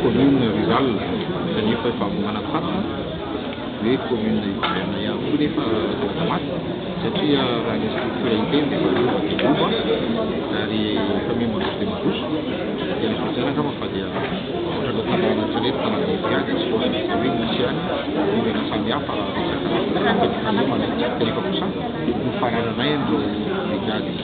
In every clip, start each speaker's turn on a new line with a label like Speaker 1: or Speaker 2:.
Speaker 1: commune rurale kanefa efa avy manantantana hoe commune hiverina ihany koa nefa lasa maty satria raha ny structure hiteny dia efa lova dia lova ary efa miha mandroso dia mandroso dia ny solosaina angamba fa dia ohatran'ny hoe tanàna ohatran'ny hoe tanàna lehibe any tsy voatanisa hoe misy ihany olana samihafa resaka fitrandrahana kanefa kosa nofarananay ny brigade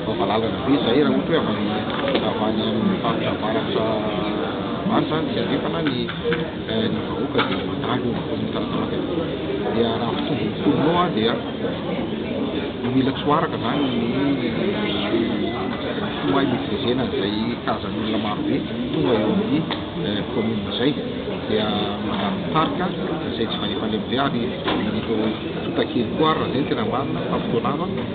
Speaker 1: Efa malalana be izay raha ohatra hoe avy avy any amin'ny faritra avaratra any izany tsy andrefana any ny vahoaka dia mandalo eo ampovoan'ny taratamaka eo. Dia raha mitovy ny mponina ao dia mila tsoaraka izany ny fo hay miveziana an'izay kazan'olona maro be tonga eo amin'ny kaominina izay dia mandalo ny tarika izay tsy valefalemy be ary ny tontakely koa ary raha izay no tena marina fa fotoana hafa